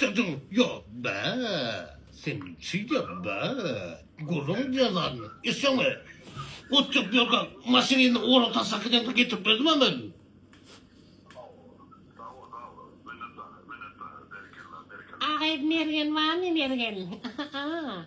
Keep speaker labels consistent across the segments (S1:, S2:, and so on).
S1: Dadaw ýok be sen şeýdýä be gürrüň diýen zadyny eşdeňmi otjak ýolda maşynyny ora taşlap gidende getirip berdim a men.
S2: Agyz mergen barmy mergen a.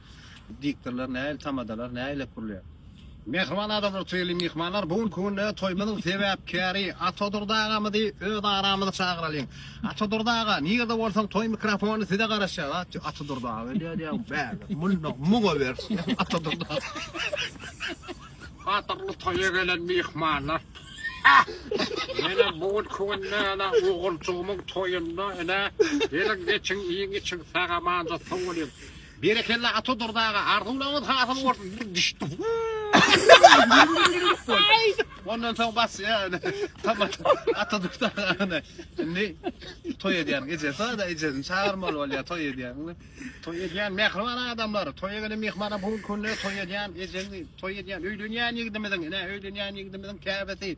S3: Diktorlar nähili tamadalar nähilek gurulýar. Mähriban adamlar Toýly myhmanlar bu günki günde toýmyzyň sebäpkäri Atadurdy agamyzy öz aramyza çagyralyň. Atadurdy aga nirde bolsaň toý mikrofony size garaşýar a Atadurdy aga öýdýär diýýär bäbek munda muňa bersin diýýär Atadurdy aga. Gadyrly toýa gelen myhmanlar Menä bu günki günde ene oguljygymyň toýunda ene geliň geçiň iýiň içiň sag amanja sow bolyň Berekella Ata Durdy aga arzuwlaryňyz hasyl bolsun bir düşdi. Ondan soň bas ya. Tamam. Ata Durdy aga. Şimdi toy edýän gece. Sonra da ecesini çağırmaly bolýar toy edýän. Toy edýän mehriban adamlar. Toy gelen mehmana bu günde toy edýän ejeni toy edýän öýlenýän ýigdimiziň, ine öýlenýän ýigdimiziň käbesi.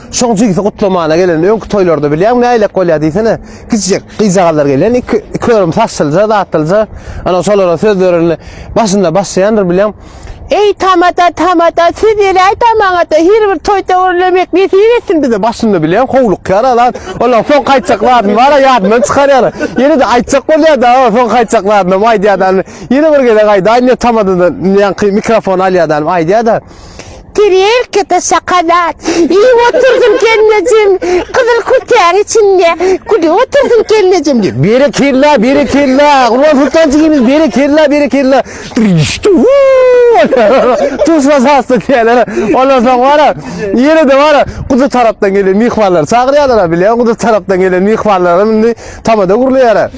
S4: Şoň jigisi gutlamana gelen öňki toýlarda bilýäňmi nälelik bolýar diýsene. Kiçijek gyzjagazlar gelýän iki iki örüm saçlyja zatlyja ana şolara söz berende başynda başlaýandyr bilýäň. Eý tamada tamada siz ýeläý tamada her bir toýda görlemek nesip etsin bize başynda bilýän howlukýar alan olar soň gaýtjak zadyny bar ýadyndan çykarýar. Ýene de aýtjak bolýar da soň gaýtjak zadyny aýdýar da ýene bir gezek aýdaýyn diýip tamadadan ýaňky mikrofon alýar da aýdýar da. Tirýelke daşa kanat. Iýip oturdyň gelnejem, gyzyl kürtäň içinde, gülüp oturdyň gelnejem diýip. Berekella, berekella, Gurban Sultan jigimiz, berekella, berekella. Tuşla sasda diýerler. Ondan soň bara, ýene-de bara, Guduz tarapdan gelen myhmanlar çagyrýarlar, bilýän Guduz tarapdan gelen myhmanlar indi tamada gurlaýar.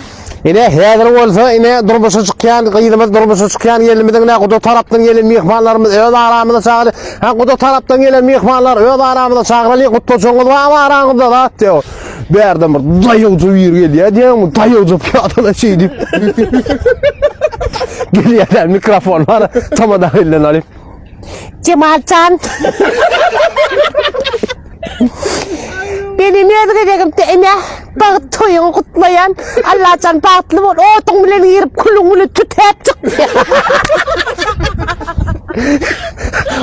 S4: Ine, häzir bolsa, ine, durmuşa çykýan gyzymyz, durmuşa çykýan gelnimiziň, ine, guda tarapdan gelen myhmanlarymyz öz aramyza çagyry. Ha, guda tarapdan gelen myhmanlar öz aramyza çagyraly, gutlajygyňyz bar araňyzda, zat diýip. Bärden bir daýawja bir gelýär diýýärmi, daýawja pyýadala şeýdip. Gelýär, mikrofon bar, tamada elden alyp. Cemaljan. Benim öz gezegimde ene bagt toýuňy gutlaýan. Allajan bagtly bol. Otuň bilen girip külüň bilen tütäp çyk.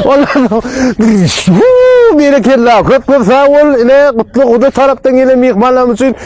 S4: Olar berekella köp köp sag bol. Ine gutly guda tarapdan gelen myhmanlarymyz üçin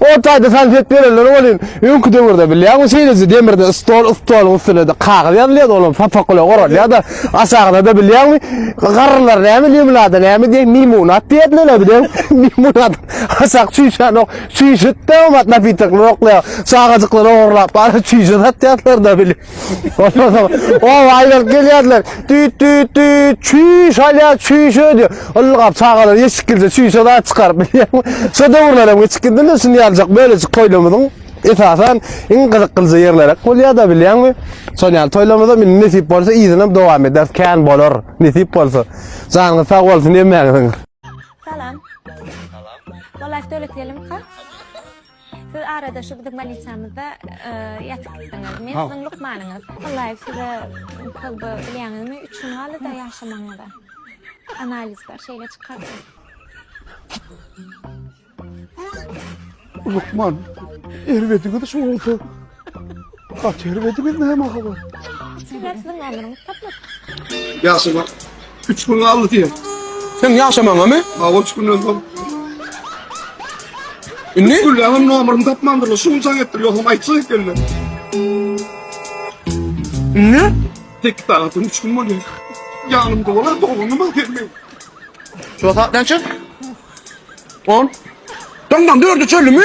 S4: O taýda salfet berenler welin, öňki döwürde bilýäňmi şeýleje demirde stol, stoluň üstüne-de kagyz ýazylýardy, olam sapak bilen oralýar-da, aşagyna-da bilýäňmi, garrylar näme limonada näme diýen mimunat diýerdiler-le bileň, mimunat, aşak çüýşänok, çüýşüt-de oňat napitok ýokla, çagajyklar ogurlap bary çüýşe satýardylar-da bile. O aylar gelýärler. Düt düt düt. Çüş alýar, çüş ödýär. Ylgap çagalar eşik girse çüşe da çykaryp bilýärmi? Şu döwürler hem eşik girdinde şuny ýaljak böylejik toýlarymyzyň esasan iň gyzyklyja ýerleri bolýar da bilýärmi? Şol ýaly toýlarymyzda meni nesip bolsa yzyna dowam eder. Kän bolar nesip bolsa. Janyňyz sag bolsun emmäňiziň. Salam. Salam. Walaýh
S5: dölet gelimka. Siz arada şu biziň baliçamyzda ýatypdyňyz. Men siziň lukmanyňyz. Allaýew size köp bilýäňizmi? Üç gün galdy-da ýaşamagyňyza. Analizler şeýle çykardy.
S6: Lukman, erbediňiz şu bolsa At ýeri bedi biz näme habar? Sizlersiň
S5: ömrüňiz tapyp. Ýaşama.
S6: 3 gün galdy diýen. Sen ýaşamaňa
S4: mı? Ha 3 günden soň. Indi? Gülläňem nomerini
S6: tapmandyr. Şu gün çak etdir. Ýogsam aýtjak ekende.
S4: Indi? Tek sagatdan
S6: 3 gün bolýar. Ýanymda bolar doganyma gelmeýin. Şu
S4: saat näçe? 10. Tamam dördü çölü mü?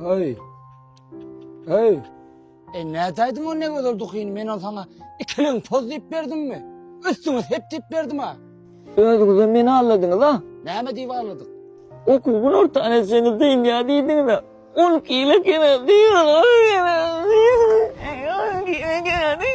S7: Hey! Hey! E nätäýdim o ne gözel dukyny men ol sana ikiliň poz diýip berdimmi? Üstüňe hep diýip berdim ha. Özüňize meni
S8: alladınız ha? Näme diýip aladyk?
S7: Okuw gün
S8: ortany etseňiz deýin ya diýdiňiz ha. On kile kene diýin on kile diýin. On kile kene diýin.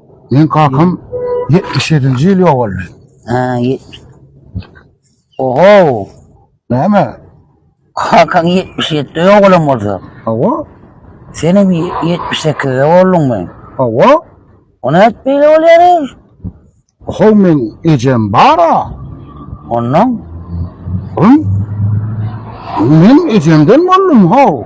S7: Meň
S6: kakam 77-nji ýyl ýogaldy. Ha,
S7: ýetmiş. Oho! Näme?
S6: Kakaň
S7: 77-de ýogalan bolsa, Hawa,
S6: senem
S7: 78-de bolduňmy? hawa.
S6: O nädip
S7: beýle bolýar ey? Oho,
S6: meň ejem bar-a. Ondan
S7: Hum.
S6: Men ejemden boldum, how.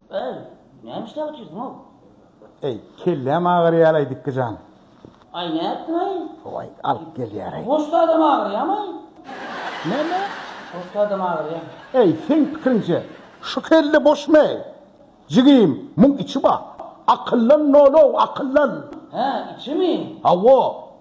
S8: Eý, näme işläp otyrsyň-ow? Eý,
S6: kelläm agyrýar-aý, Dikgi jan. Aý, nätdiň-aý?
S8: Howaý, alyp
S6: gelýär-aý. Goşda adam agyrýamy-aý?
S8: Näme?
S6: Goşda
S8: adam agyrýamy? Eý, seň
S6: pikiriňçe, şu kelle boşmy-eý? Jigim, muň içi bar. Akyllan nol-ow, akyllan! Hä, içimi?
S8: Hawa.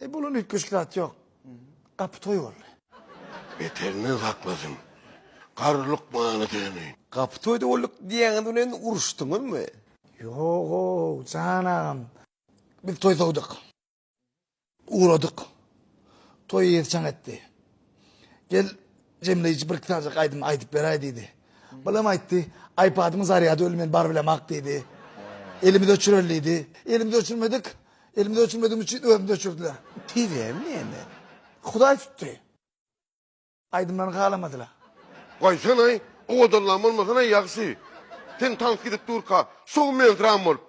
S6: E bulan üýtgeşik zat ýok. Gapy toý boldy. Beterinden
S1: saklasyn. Garry lukmana döneýin. Gapy toýda bolduk
S4: diýýäňiz bilen uruşdyňyzmy? Ýog-ow,
S6: jan agam. Biz toý sowduk. Ugradyk. Toý ýerçaň etdi. Gel Jemleýji birki sanjak aýdym aýdyp beräý diýdi. Balam aýtdy, Aýpadymyň zarýady öli men baryp bilemak diýdi. Elimizi öçüreli diýdi. Elimizi öçürmedik. Elimizi öçürmedigimiz üçin özümizi öçürdiler. Tizem näme?
S4: Hudaý tutdy.
S6: Aýdymlaryny halamadylar. Goýsana-aý,
S1: owadanlaň bolmasana-aý ýagşy. Sen tans gidip durka, şowmensirän bolup,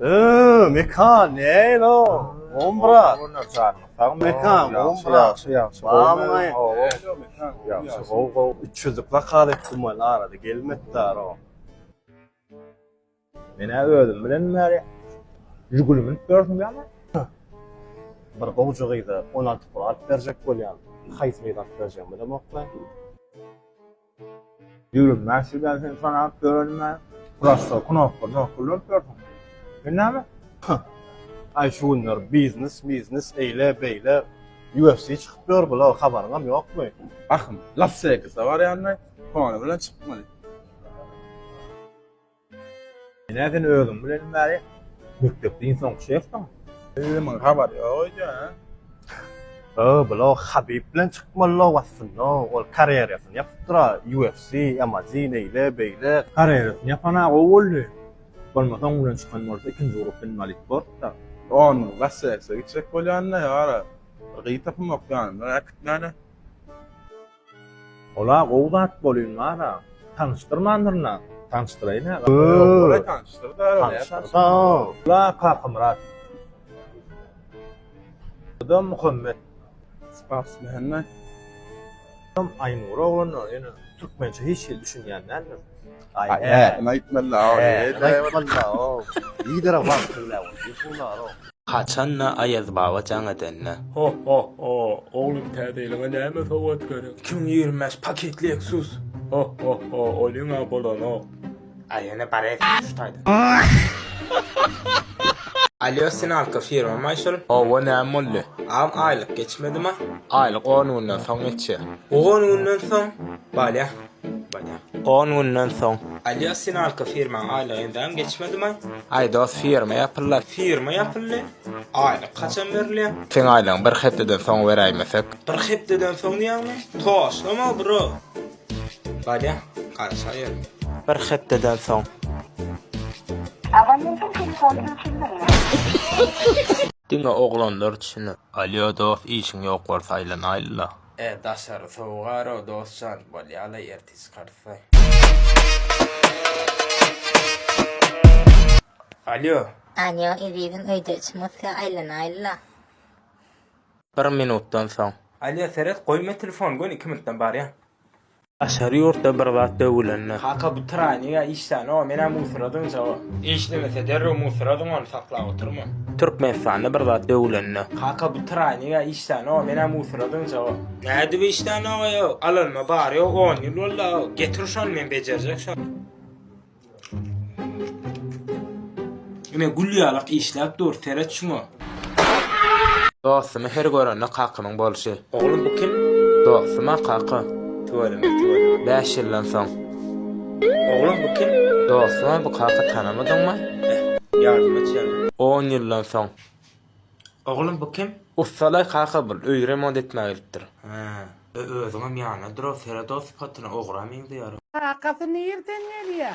S4: Ööö Mekan nälo gowmy brat. Gowmy janyň sag bol. Mekan gowmy brat. Ýagşy ýagşy gowmy. Ýagşy gow gow üç ýüzlük zakaz etdim welin arada gelmedidaro.
S9: Menä özüm bilen bäri Žiguli münüp ýörsüň ýa ne?
S4: Bir gowja gyza on alty pul alyp berjek bolýan. Haýsy gyza alyp berjegimi bilemokmy.
S9: Ýigirmi bäş ýyldan sen sanap ýörenme. Prosto knopka nokka ulanp ýörsüň. Sen näme? Hyh.
S4: Aý şu günler biznes miznes eýle beýle UFC çykyp ýör bula habaryňam ýokmy? Ahym, Las
S3: Wegasa barýandaý, kony bilen çykmaly.
S9: Ine sen özüň bilen bäri mekdepde iň soňky şefsiň. Özümiň habar
S3: ýok öýdýän.
S4: Öo bula Habib bilen çykmaly lobasynda ol karýerasyny ýapypdyra UFC, MAZ beýle beýle. Karýerasyny ýapana
S9: gowy boldy. Bolmasa oň bilen çykan bolsa ikinji grup inwalid bortda. Ony Las-Wegasa
S3: gitjek bolýan-da ýara bir gyz tapymak ýanyndan äkitmäne.
S9: Ola gowy zat bolyň bara tanyşdyrmandyrna tanyşdyraýyn agam. Ýok
S3: tanyşdyr däl ol näme
S4: tanyşdyr. Ola
S9: Kakamyrat. Oda Muhammet. Spas
S3: Mehmet.
S9: Aýnur oglanlar ýöne türkmençe hiç hili düşünýän däldir. Aýdym
S4: aýtmaly aw.
S10: Haçanda Aýaz baba jaň edende. Ho ho ho
S11: oglum täze ýylyňa näme sowgat gerek. Iki müň ýigrimi bäş paket leksus. Ho ho ho olyňa bolanok. A ýene
S10: bareýs şu taýdan. Alýo Sinalka firmamay şul. Howwa näme boldy.
S11: Agam aýlyk
S10: geçmedima. Aýlyk on günden
S11: soň geçýär. On günden
S10: soň bolýa. On günden soň. Alýo Sinalka firmaň aýlygy entägem geçmedimi? Aý dos firma
S11: ýapyldy. Firma ýapyldy.
S10: Aýlyk haçan berilýär? Seň aýlygyň bir
S11: hepdeden soň beräýmesek? Bir hepdeden
S10: soň diýýäňmi? Toslama bro. Alýo garaşaýer. Bir hepdeden soň. Abonentiň
S11: telefony öçürilmeýär. Diňe oglanlar üçin. Alýo dos işiň ýok bolsa aýlanaýlyla. E daşary
S10: sowugaro dosjan bolýala ertir çykarsa. Alýo. Alýo
S12: ezizim öýde içmosya aýlanaýla.
S11: Bir minutdan soň. Alýo seret goýma
S10: telefony göni iki minutdan barýan. Daşary
S11: ýurtda bir zat döwülende. Kaka bu traýnega
S10: işlän o menä musyradyň jaba. Işlemese derrew musyradyň ony saklap oturma. Türkmenistanda
S11: bir zat döwülende. Kaka bu traýnega
S10: işlän o menä musyradyň jaba. Nädip işlän ogaýa alanyma bary ýok on ýyl boldy a getir şony men bejerjek şony. Ine gül ýalak işläp dur seret şuňa. Dostumy
S11: her görende kakamyň bolşy. Oglum bu kim?
S10: Dostuma
S11: kaka. Tüweleme
S10: tüweleme. Bäş
S11: ýyldan soň. Oglum
S10: bu kim? Dostuma bu kaka
S11: tanamadyňmy? Eh ýardam
S10: et ýa. On ýyldan soň.
S11: Oglum
S10: bu kim? Ussalaý kaka bul,
S11: öýi remont etmä gelipdir. Hä, e
S10: özüňem ýanyna durar, seret o sypatyna, ogra meňzeýär. Kakasy nirden
S2: gelýä?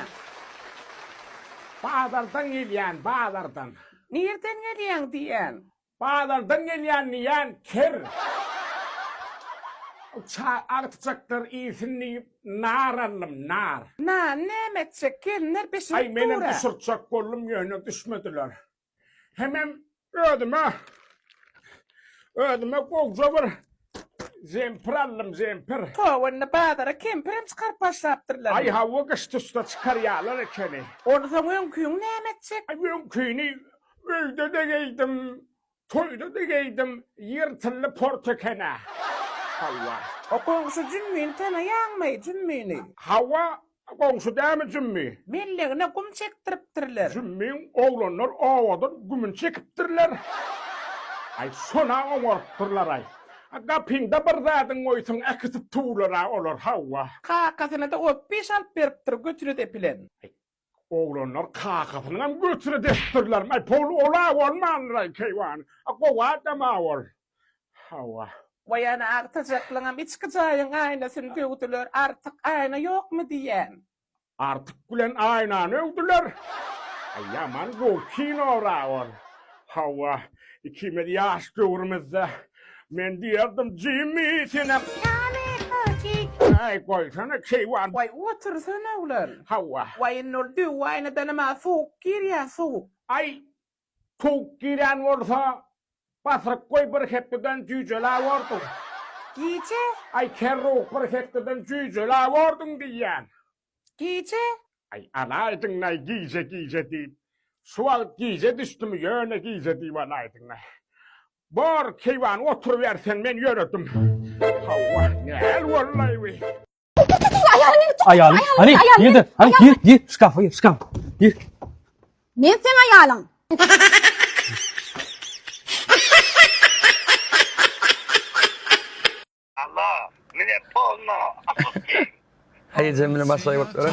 S13: Bazardan gelýän, bazardan. Nirden
S2: gelýäň diýýän? Bazardan
S13: gelýän diýýän, ker. Çaý artjakdyr iýsin diýip, nar aldym, nar. Nany näme etjek,
S2: gelinler bişirip dur-a. Aý, menem düşürtjek
S13: boldum, ýöne düşmediler. Hemem özüme özüme gowja bir jempir aldym, jempir. Toba indi bazara
S2: kempirem çykaryp başlapdyrlar. Aý hawa gyş tussa
S13: çykarýarlar ekeni. Ony soň öňküni
S2: näme etjek? Aý öňküni
S13: öýde-de geýdim, toýda-da geýdim, ýyrtyldy port ekena. Hawa. O goňşy
S2: Jümmini tanaýaňmy, Jümmini? Hawa, A
S13: goňşy dämi Jümmi? Mellegine gum
S2: çekdiripdirler. Jümmiň oglanlar
S13: owadan gümüni çekipdirler. Aý, şon-a oňarypdyrlar-aý. A gapyňda bir zadyň goýsaň, äkitip tuwlar-a olar, hawa. Kakasyna-da
S2: opbiş alyp beripdir götüne depilen. Aý, oglanlar
S13: kakasynyňam götüne depipdirlermi? Aý, pul ol-a bolmandyr-aý, keýwany. A gowy adam-a ol. Hawa. Waý ana
S2: agtyjaklyňam içki jaýyň aýnasyny döwdüler artyk aýna ýokmy diýýän. Artyk
S13: bilen aýnany öwdüler. Aý ýaman gowy kinora ol. Hawa ikimiz ýaş döwrümizde men diýerdim Jimmi senem. Aý goýsana keýwan. Waý otursana
S2: oglan. Hawa. Waý indi
S13: ol döw
S2: aýnadanam-a sowuk girýä sowuk. Aý
S13: Sowuk girýän bolsa, batyryk goý bir hepdeden jüýjelä borduň. Gije.
S2: Aý kerruh
S13: bir hepdeden jüýjelä borduň diýýän. Gije.
S2: Aý
S13: alaýdyňlaý gije gije diýip. Şu wagt gije düşdümi ýöne gije diýip alaýdyňlaý. Bor keýwan oturyber sen men ýöredim. Hawa näl bollaý bu.
S7: Aýalyň, hany, ýerde, hany, ýer, ýer, şkafa ýer, şkaf, ýer. Men
S14: sen aýalyň. Allah, mine
S4: polno, Haýy jemini başlaýyp oturan.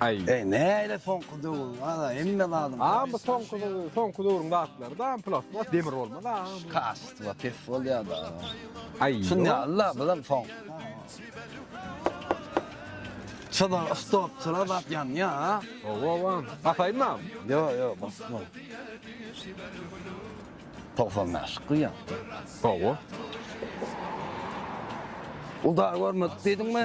S3: Aý. Eý, näle
S7: soňky döwür, a-da hemme zadyň. A, bu soňky,
S3: soňky döwrüň zatlary-da, plastmas, demir bolmaz, a. Kastywa
S7: pes bolýar-da. Aý. Şuny
S3: al-da, bizem
S7: soň. Şoda stop, şoda zat ýanýar, a. Oba-oba.
S3: Basaýynmy? Ýo, ýo,
S7: basma. 95 gyýan. Oba. Uda görmedik diýdiňmi?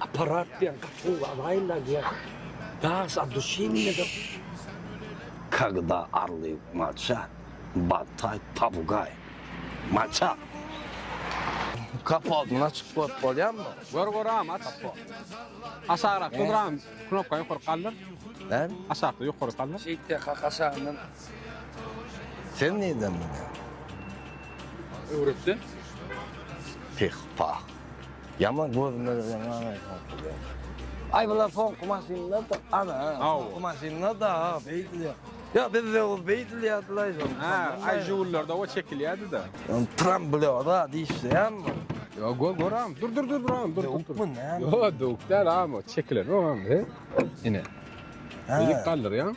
S7: Aparat bilen
S15: gaty gowy agaýlar diýýär. Daş a duşinine da.
S7: Kagda arly maça, batay pabugay. Maça. Kapotny açyp goýup bolýamy? Gör göräýem aç.
S3: Aşagrak gydyram knopka ýokaryk galdyr. Näme? Aşakda
S7: ýokaryk galdyr.
S3: Şeýt de kaka aşagyndan.
S7: Sen nirden bilýäň? Öwretdi.
S15: Peh
S7: pah. Ýaman gözüme gelen agay satylyar. Ay bular soňky maşynlar da ana. Soňky maşynlar da beýdilýär. Ya bizde o beýdilýärdiler aýdym. Ha, ay jugullarda
S3: o çekilýärdi da. Tram blöda
S7: diýişýän mi? Yo go goram.
S3: Dur dur dur dur dur. Duk mu
S7: ne? Yo duk da ama
S3: çekilen o ama. Ine. Dik kaldyrýan.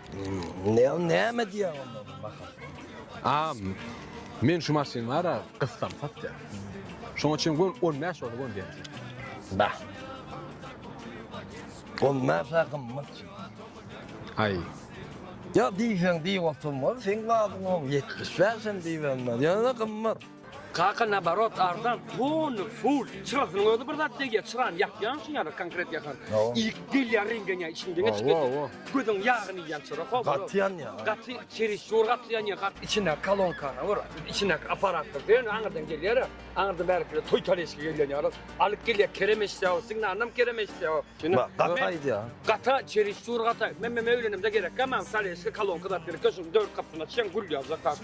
S7: Näme näme diýýäň onda baha? Am, men
S3: şu maşyn bar-a, gyssam satýar. Şoň üçin gör 15 ol gör diýýän. Bah.
S7: 15 a gymmat.
S3: Aý.
S7: Ýa diýseň diý oturmaz, seň badyň o 75 hem diýmez. Ýöne gymmat. Kaka naborot
S15: arzan tony full çyrasynyň özi bir zat degýär çyrany ýakýaň şuň ýaly konkret ýakan ilk gelýär reňgenýär içiň deňe çykyp gözüň ýagyny iýýän çyra ho gaty ýanýar gaty
S7: çerisur
S15: gaty ýanýar gaty içine kalonkana gör içine aparatdyr diýen aňyrdan gelýär aňyrdan bärikiler toý taleşki gelýän ýaly alyp gelýär kerem eşýär signalnam kerem eşýär şuny gaty aýdýar
S7: gaty çerisur
S15: gaty men men öýlenemde gerekkä maňa taleşki kalonka zat gerekkä şuny dört gapysyny açýaň gül ýazýar kaka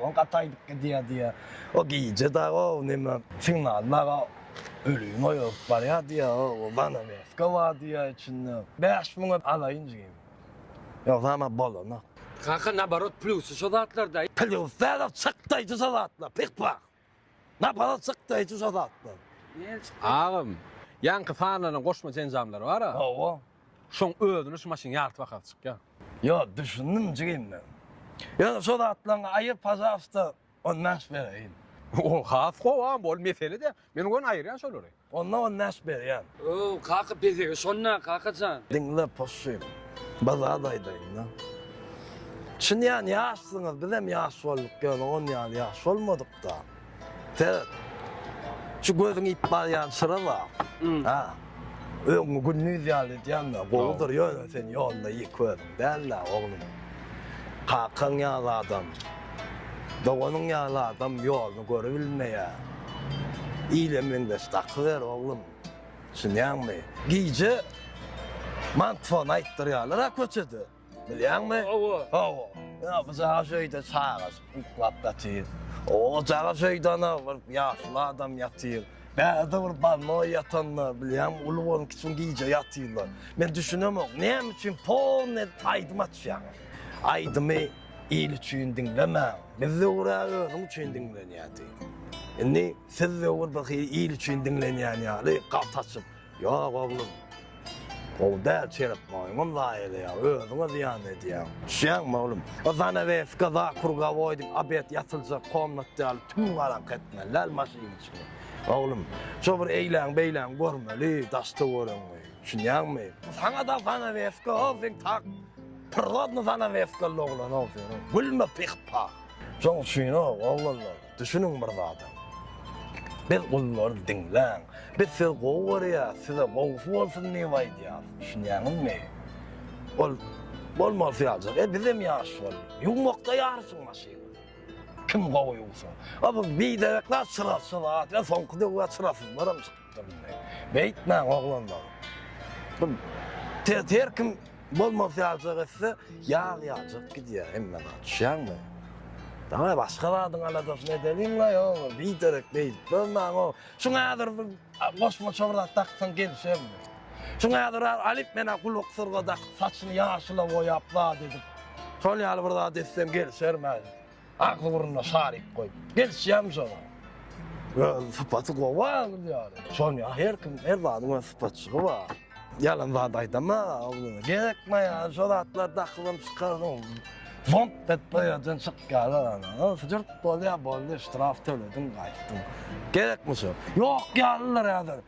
S7: Ol gaty aýdyp gidýärdi. O gije dagy o neme Signal dagy ölümi oýaryp barýardy. O zanaweska bardy içinde. Bäş müňe alaýyn jigim. Ýogsa ama bolanok. Kaka naborot
S15: plusy şo zatlarda. Plusy
S7: çykdaýjy şo zatlar pyh pyh. Napara çykdy hiç uşa zatlar. Nel çykdy? Agam,
S3: ýaňky sanlanan goşmaça enjamlar bar-a. Hawa. Şoň
S7: özüne
S3: şu maşyn ýarty bahasy çykýar. Ýo, düşündim
S7: jigim men. Ýöne şo zatlaryňy aýyr pažarysta, on bäş bereýin. Ol has
S3: gowam, ol mesele däl. Men ony aýyrýan şolary. Onda on bäş
S7: berýän. Ööw kaka
S15: bezegi şonda kakajan. Diňle possyn.
S7: Bir zat aýdaýynda. Çyn ýan ýaşsyňyz bizem ýaş bolduk ýöne on ýaly ýaş bolmadykda. Seret. Şu gözüň iýip barýan çyra bar. Hä. Öňňi gündiz ýaly edýänme gowudyr ýöne sen ýolda iý köz. Däl-dä, oglum. Kakaň ýaly adam, doganyň ýaly adam ýoluny görübilmeýär. Ile meňzeş dakyber, oglum. Düşünýäňmi? Gije mantfon aýtdyrýarlar-a köçede, bilýäňmi? Hawa. Hawa. Ýa bu caş öýde çagaşyp uklap ýatyr. O caş öýde ana bir ýaşuly adam ýatyr. Bärde bir bolmaga ýatanlar, bilýäňmi, uly boluň, kiçiň gije ýatyrlar. Men düşünemok, näme üçin polny aýdym açýaň? Aýdymy il üçin diňlemäň. Biz döwür-ä özüň üçin diňlenýärdi. Indi siz döwür bir hili il üçin diňlenýän ýaly, galt açyp, Ýok oglum. Gowy däl çerep maýmyn zaýa edýär, özüňe zyýan edýäň. Düşýäňmi oglum? O zanaweska zakurgawoý diýip obed ýatyljak komnat ýaly tüm-garaňky etmeli däl maşynyň içini. Oglum, şo bir eýläň-beýläň görmeli daş-töweregiňi. Düşünýäňmi? Saňa-da zanaweska ow seň tak. Pyrrodny zanaweskaly oglan-ow sen. Gülme pyh-pah. Şoň üçin-ow oglanlar. Düşüniň bir zada. Biz gullarys diňläň. Biz sizi gowy görýäs, size gowusy bolsun diýip aýdýas. Düşünýäňizmi? Ol bolmalysy ýaljak. E bizem ýaş boldy. Ýuwmakda ýaryşyň maşyny. Kim gowy ýuwsa. A bu biderekler çyrasy zat. Soňky döwür çyrasyzlaram çykdy. Beýtmäň oglanlar. Bu tez her kim bolmaz ýaljak etse, ýag ýaljak gidýär hemme zat. Düşýäňmi? Daňy başga zadyň aladasyny edeliň-la, ýogsam biderek beýdip durmaň. Şuňa häzir bir goşmaça bir zat daksaň gelişermi? Şuňa häzir alyp men-ä gulaksyryga dakyp, saçyny ýaşyla boýap zat edip, şol ýaly bir zat etseň gelişermi häzir? Agzy burnuna saryp goýup, geçýäm şoňa. Öz sypaty gowy agyz ýaly. Şony her kim, her zadyň öz sypatçygy bar. Ýalan zat aýdama, agzyňa gerekme ýa, şo zatlar dakylyp çykardyň. Zomp bet bu ýerden çyk ýaly ana. Jürt bolýa, boldy, ştraf tölediň, gaýtdyň. Gerekmi şo? Ýok ýalylar häzir.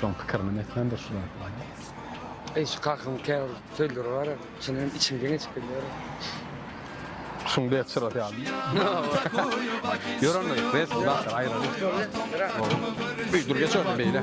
S3: Şoň pikirini netmen dur şular.
S15: Eý şu kakam käbir söýleri bar, şunuň içim geňe çykyp bilýär. Şuň
S3: bet şyrat ýaly. Ýörende bet zat aýraly. Dur geç öňe beýle.